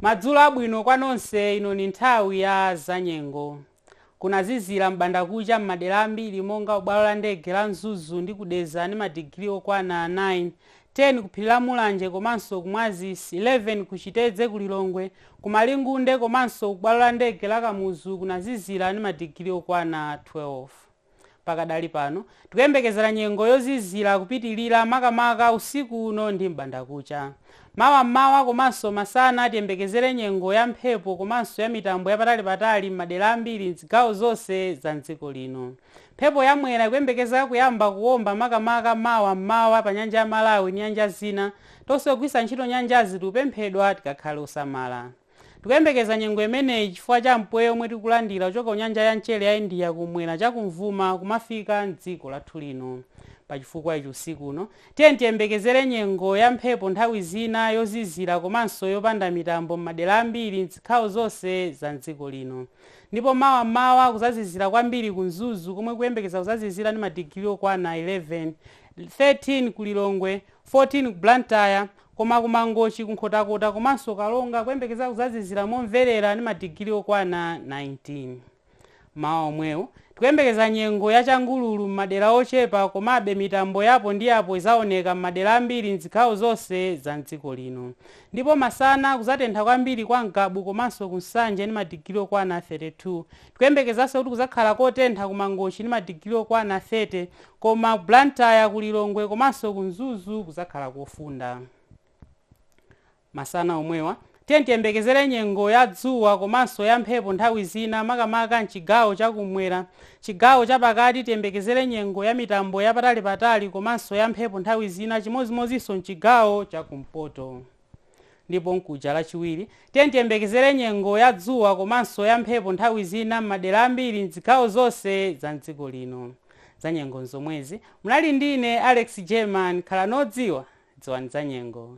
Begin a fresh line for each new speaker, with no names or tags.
madzulo abwino kwa nonse ino ni nthawi ya zanyengo kunazizira m'bandakucha m'madera ambiri monga kubwalo la ndege la mzuzu ndi kudeza ndi madigiri okwana 9 10 ku phiri la mulanje komanso ku mwazisi 11 ku chitedze ku lilongwe ku malingunde komanso ku bwalo la ndege la kamuzu kunazizira ndi madigiri okwana 12 Pakadali pano, tikuyembekezera nyengo yozizira kupitirira makamaka usiku uno ndi m'bandakucha. Mawa m'mawa komanso masana tiyembekezere nyengo ya mphepo komanso ya mitambo yapatalipatali m'madera ambiri m'zigawo zonse za m'dziko lino. Mphepo ya Mwera ikuyembekezeka kuyamba kuomba makamaka mawa m'mawa pa Nyanja ya Malawi ndi nyanja zina. Tonse ogwitsa ntchito nyanjazi tikupemphedwa tikakhale osamala. Tikuyembekeza nyengo imeneyi chifukwa cha mpweya omwe tikulandira kuchoka ku nyanja ya mchere ya India kum'mwera cha kumvuma kumafika m'dziko lathu lino. Pa chifukwa ichi usiku uno, tiyeni tiyembekezere nyengo ya mphepo nthawi zina, yozizira komanso yopanda mitambo m'madera ambiri m'zigawo zonse za m'dziko lino. Ndipo mawa m'mawa kuzazizira kwambiri ku Mzuzu komwe kukuyembekeza kuzazizira ndi madigiri okwana 11, 13 ku Lilongwe, 14 ku Blantyre, Koma ku Mangochi, ku Nkhotakota komanso Karonga kukuyembekeza kuzazizira momverera ndi madigiri okwana 19. M'mawa womwewu, tikuyembekeza nyengo ya changululu m'madera ochepa komabe mitambo ya apo ndi apo izaoneka m'madera ambiri m'zigawo zonse za m'dziko lino. Ndipo masana, kuzatentha kwambiri kwa Ngabu komanso ku Nsanje ndi madigiri okwana 32. Tikuyembekezanso kuti kuzakhala kotentha ku Mangochi ndi madigiri okwana 30. Koma ku Blantyre, ku Lilongwe komanso ku Mzuzu kuzakhala kofunda. Masana omwewa, tiyeni tiyembekezere nyengo ya dzuwa komanso ya mphepo nthawi zina makamaka m'chigawo cha kum'mwera. Chigawo cha pakati tiyembekezere nyengo ya mitambo ya patalipatali komanso ya mphepo nthawi zina chimodzimodzinso m'chigawo cha kumpoto. Ndipo mkuja Lachiwiri, tiyeni tiyembekezere nyengo ya dzuwa komanso ya mphepo nthawi zina m'madera ambiri m'zigawo zonse za m'dziko lino. Zanyengo n'zomwezi. Munali ndi ine, Alex Jerman. Khalani odziwa. Dziwani zanyengo.